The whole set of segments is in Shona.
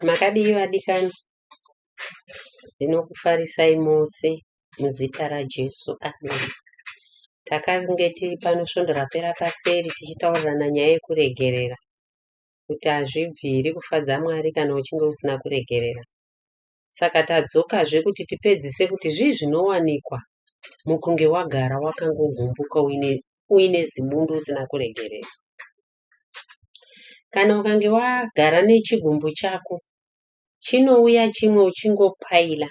Makadii vadikani? Ndinokufarisai mose muzita raJesu. Amen. Takange tiri pano svondo rapera paseri tichitaurirana nyaya yekuregerera kuti hazvibviri kufadza Mwari kana uchinge usina kuregerera. Saka tadzokazve kuti tipedzise kuti zvii zvinowanikwa mukunge wagara wakangogumbuka uine, uine zibundu usina kuregerera. Kana ukange wagara nechigumbu chako chinouya chimwe uchingopaila.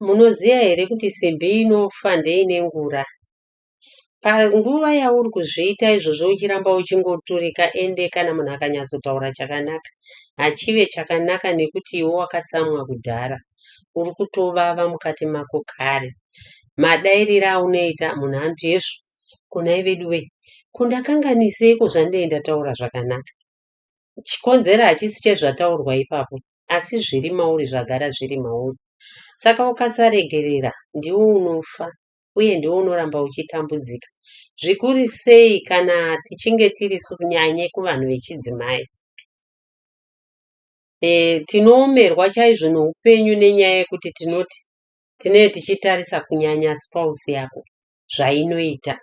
Munoziva here kuti simbi inofa ndeine ngura. Panguva yauri kuzviita izvozvo uchiramba uchingoturika ende kana munhu akanyatsotaura chakanaka hachive chakanaka nekuti iwe wakatsamwa kudhara. Uri kutovava mukati mako kare. Madairire aunoita munhu anoti hezvo kunai veduwe kundakanganiseiko zvandei ndataura zvakanaka chikonzero hachisi chezvataurwa ipapo asi zviri mauri zvagara zviri mauri saka ukasaregerera ndiwo unofa uye ndiwo unoramba uchitambudzika zvikuru sei kana tichinge tiri nyanye kuvanhu vechidzimai e, tinoomerwa chaizvo noupenyu nenyaya yekuti tinoti tinee tichitarisa kunyanya spouse yako zvainoita.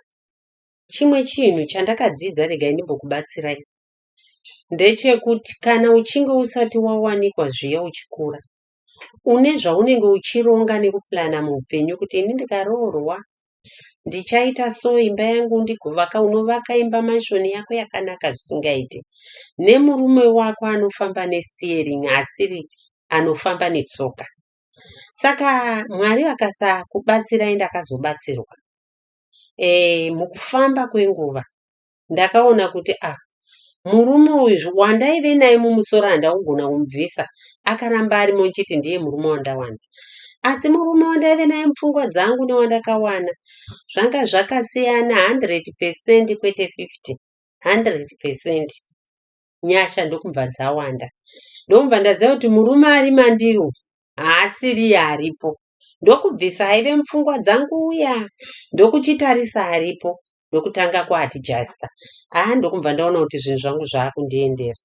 Chimwe chinhu chandakadzidza regai ndimbokubatsirai ndechekuti kana uchinge usati wawanikwa zviya uchikura une zvaunenge uchironga nekupurana muupenyu kuti ini ndikaroorwa ndichaita so imba yangu ndigovaka unovaka imba manshoni yako yakanaka zvisingaiti nemurume wako anofamba nesteering asiri anofamba netsoka saka mwari vakasakubatsirai ndakazobatsirwa e, mukufamba kwenguva ndakaona kuti ah murume uyu wandaive naye mumusoro handaugona kumubvisa akaramba arimo nchiti ndiye murume wandawana asi murume wandaive naye mupfungwa dzangu newandakawana zvanga zvakasiyana 100 percent kwete 50 100 percent nyasha ndokumva dzawanda ndokumva ndaziva kuti murume ari mandiro haasiriye aripo ndokubvisa aive mupfungwa dzangu uya ndokuchitarisa aripo ndokutanga kuatijasta haa ah, ndokumva ndaona kuti zvinhu zvangu zvaakundiendera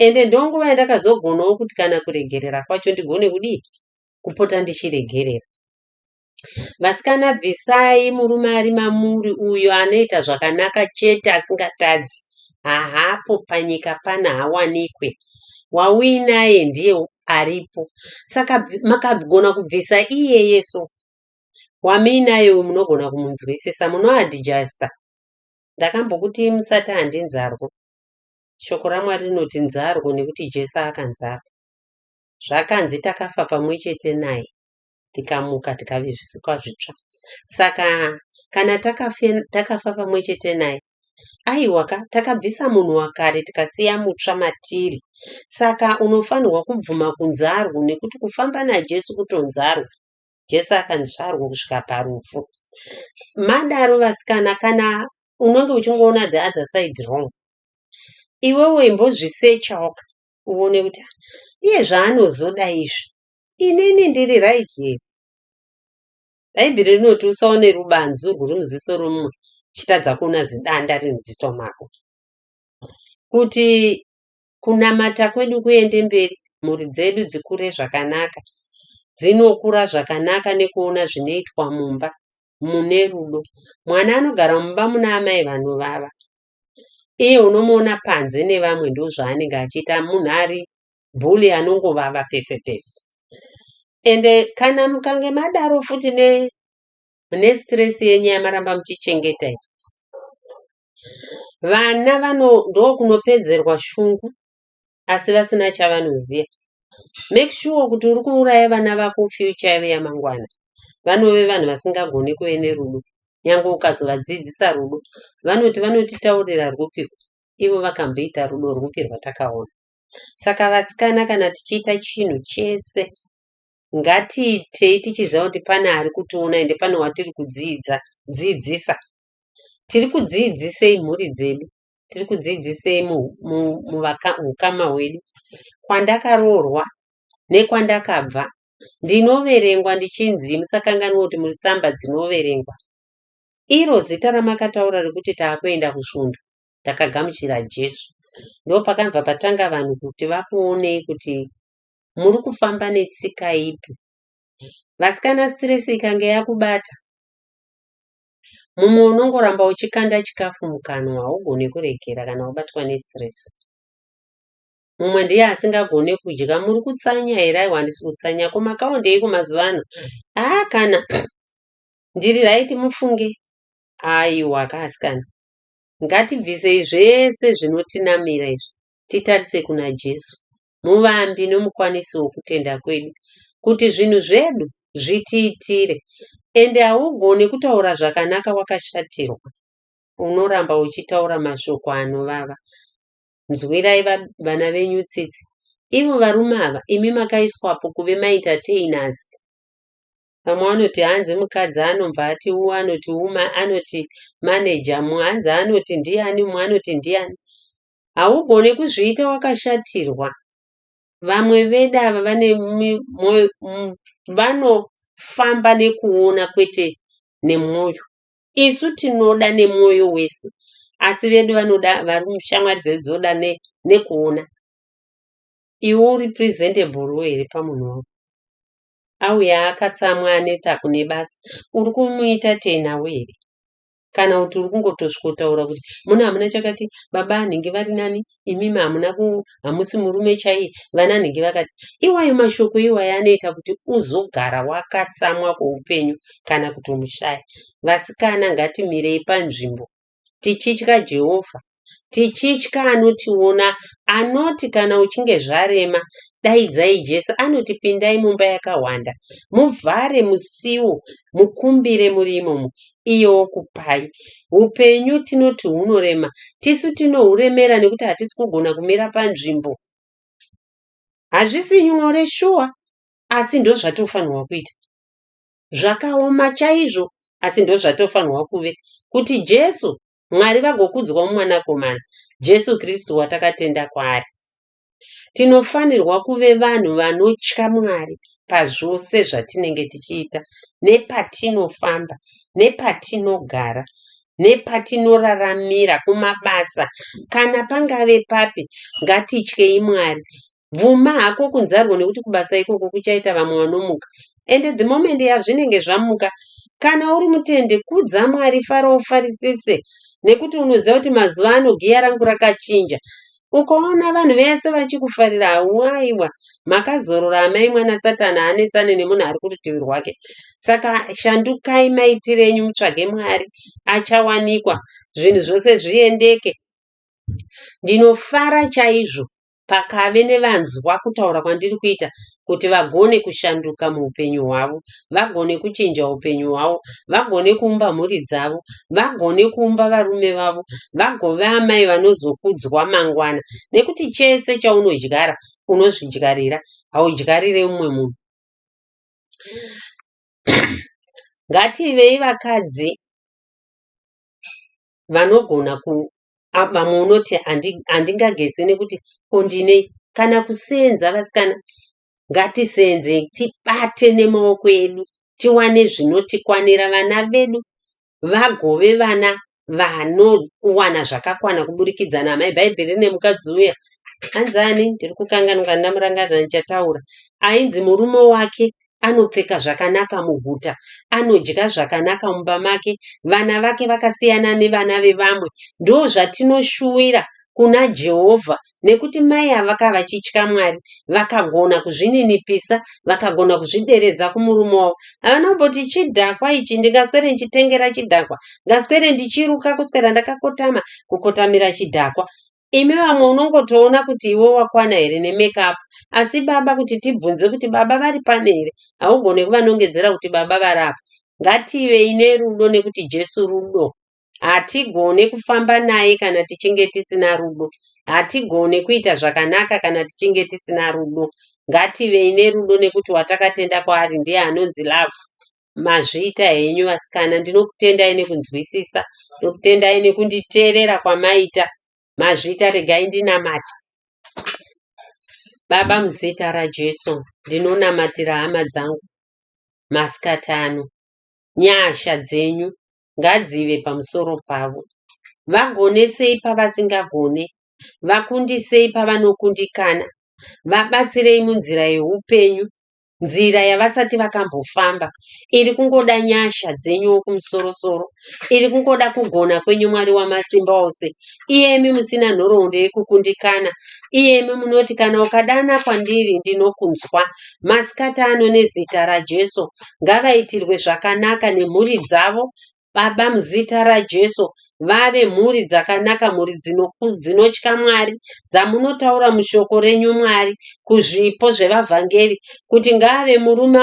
ende ndonguva yandakazogonawo kuti kana kuregerera kwacho ndigone kudii kupota ndichiregerera Vasikana bvisai murume ari mamuri uyo anoita zvakanaka chete asingatadzi. Haapo panyika pana hawanikwe. Wauyi naye ndiye aripo. Saka makagona kubvisa iyeye so. Wamuinaye uyu munogona kumunzwisisa munoadjusta. Ndakambokuti musati handi nzarwo. Shoko raMwari rinoti nzarwo nekuti Jesu akanzarwa. Zvakanzi takafa pamwe chete naye. tikamuka tikave zvisikwa zvitsva. Saka kana takafe, takafa pamwe chete naye, aiwaka takabvisa munhu wakare tikasiya mutsva matiri. Saka unofanirwa kubvuma kunzarwo nekuti kufamba naJesu kutonzarwa. Jesu akanzvarwa kusvika parufu. Madaro vasikana, kana unenge uchingoona the other side wrong, iwewe imbozvisecha waka uone kuti "Ah, iye zvaanozoda izvi Inini ndiri right here? Bhaibheri rinoti usaone rubanzu rwuri muziso romumwe uchitadza kuona zidanda riri muziso mako. Kuti kunamata kwedu kuende mberi, mhuri dzedu dzikure zvakanaka, dzinokura zvakanaka nekuona zvinoitwa mumba mune rudo. Mwana anogara mumba muna amai vanovava, iye unomuona panze nevamwe ndozvaanenge achiita munhu ari bully anongovava pese pese ende kana mukange madaro futi ne mune stress yenyu yamaramba muchichengeta iyi vana vano ndokunopedzerwa shungu asi vasina chavanoziva make sure kuti uri kuuraya vana vako future yavo yamangwana vanove vanhu vasingagone kuve nerudo nyange ukazovadzidzisa rudo vanoti vanotitaurira rwupiko ivo vakamboita rudo rwupi rwatakaona Saka vasikana kana tichiita chinhu chese ngatiitei tichiziva kuti pane ari kutiona ende pane watiri kudziidza dziidzisa. Tiri kudziidzisei mhuri dzedu? Tiri kudziidzisei muhukama hwedu? Kwandakaroorwa nekwandakabva ndinoverengwa ndichinzi musakanganwe kuti muri tsamba dzinoverengwa. Iro zita ramakataura rekuti taakuenda kusvondo ndakagamuchira Jesu. Ndopakabva patanga vanhu kuti vakuonei kuti muri kufamba netsika ipi. Vasikana stress ikange yakubata, mumwe unongoramba uchikanda chikafu mukanwa haugone kuregera kana wabatwa nestress. Mumwe ndiye asingagone kudya, muri kutsanya here? Aiwa handisi kutsanya. Ko makaondeiko mazuva ano? Haa ah, kana ndiri right mufunge. Aiwa kaasikana. Ngatibvisei zvese zvinotinamira izvi titarise kuna Jesu, muvambi nomukwanisi wokutenda kwedu, kuti zvinhu zvedu zvitiitire. Ende haugone kutaura zvakanaka wakashatirwa, unoramba uchitaura mashoko anovava. Nzwirai vana venyu tsitsi. Ivo varume ava imi makaiswapo kuve maentertainers. Pamwe anoti hanzi mukadzi anobva ati u anoti uma anoti manager mu hanzi anoti ndiani mu anoti ndiani. Haugone kuzviita wakashatirwa. Vamwe vedu ava vane mwoyo vanofamba nekuona kwete nemwoyo. Isu tinoda nemwoyo wese asi vedu vanoda vari shamwari dzedu dzinoda nekuona. Iwe uri presentable here pamunhu wako? auya akatsamwa aneta kune basa uri kumuita tei nawo here kana kuti uri kungotosvikotaura kuti muno hamuna chakati baba anhingi vari nani imimi hamuna hamusi murume chaiye vana anhingi vakati iwayo mashoko iwayo anoita kuti uzogara wakatsamwa kweupenyu kana kutomushaya vasikana ngatimirei panzvimbo tichitya Jehovha, tichitya anotiona, anoti kana uchinge zvarema, daidzai Jesu, anoti pindai mumba yakahwanda, muvhare musiwo, mukumbire muri imomo, iye okupai. Upenyu tinoti hunorema, tisu tinohuremera nekuti hatisi kugona kumira panzvimbo. Hazvisi nyore shuwa, asi ndozvatinofanirwa kuita. zvakaoma chaizvo asi ndozvatofanirwa kuve kuti Jesu Mwari vagokudzwa mumwanakomana Jesu Kristu watakatenda kwaari. Tinofanirwa kuve vanhu vanotya Mwari pazvose zvatinenge tichiita nepatinofamba nepatinogara nepatinoraramira kumabasa kana pangave papi ngatityei Mwari bvuma hako kunzarwo nekuti kubasa ikoko kuchaita vamwe vanomuka and the moment yazvinenge zvamuka kana uri mutende kudza mwari fara ufarisise nekuti unoziva kuti mazuva ano giya rangu rakachinja ukaona vanhu vese vachikufarira hauaiwa makazorora amai mwana satani anetsane nemunhu ari kurutivi rwake saka shandukai maitire enyu mutsvage mwari achawanikwa zvinhu zvose zviendeke ndinofara chaizvo pakave nevanzwa kutaura kwandiri kuita kuti vagone kushanduka muupenyu hwavo, vagone kuchinja upenyu hwavo, vagone kuumba mhuri dzavo, vagone kuumba varume vavo, vagove amai vanozokudzwa mangwana. Nekuti chese chaunodyara unozvidyarira, haudyarire umwe munhu. Ngativei vakadzi vanogona ku a- vamwe unoti handi- handingageze nekuti ko ndinei kana kuseenza vasikana ngatiseenze tibate nemaoko edu tiwane zvinotikwanira vana vedu vagove vana vanowana zvakakwana kuburikidza naamai bhaibheri rine mukadzi uya anzani ndiri kukanganwa ndamurangarira ndichataura ainzi murume wake anopfeka zvakanaka muguta, anodya zvakanaka mumba make, vana vake vakasiyana nevana vevamwe. Ndozvatinoshuwira kuna Jehovha nekuti mai ava vakava vachitya Mwari, vakagona kuzvininipisa, vakagona kuzvideredza kumurume wavo. Havana kumboti chidhakwa ichi, ndingaswere ndichitengera chidhakwa, ngaswere ndichiruka kuswera ndakakotama kukotamira chidhakwa. Imi vamwe unongotoona kuti iwe wakwana here ne make up asi baba kuti tibvunze kuti baba vari pane here haugone kuvanongedzera kuti baba vari apa. Ngativei nerudo nekuti Jesu rudo. Hatigone kufamba naye kana tichinge tisina rudo. Hatigone kuita zvakanaka kana tichinge tisina rudo. Ngativei nerudo nekuti watakatenda kwaari ndiye anonzi love. Mazviita henyu vasikana ndinokutendai nekunzwisisa ndinokutendai nekunditeerera kwamaita mazviita regai ndinamate baba muzita rajesu ndinonamatira hama dzangu masikati ano nyasha dzenyu ngadzive pamusoro pavo vagonesei pavasingagone vakundisei pavanokundikana vabatsirei munzira yeupenyu nzira yavasati vakambofamba iri kungoda nyasha dzenyu wekumusoro soro iri kungoda kugona kwenyu mwari wamasimba ose iyemi musina nhoroondo yekukundikana iyemi munoti kana ukadana kwandiri ndinokunzwa masikati ano nezita rajesu ngavaitirwe zvakanaka nemhuri dzavo Baba muzita raJesu vave mhuri dzakanaka mhuri dzinotya Mwari dzamunotaura mushoko renyu Mwari kuzvipo zvevavhangeri kuti ngaave murume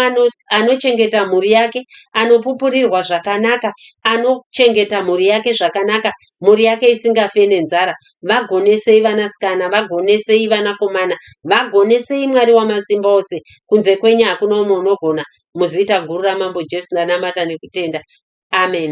anochengeta mhuri yake anopupurirwa zvakanaka anochengeta mhuri yake zvakanaka mhuri yake isingafe nenzara vagonesei vanasikana vagonesei vanakomana vagonesei Mwari wamasimba ose kunze kwenyu hakuna umwe unogona Muzita guru raMambo Jesu ndanamata nekutenda. Amen.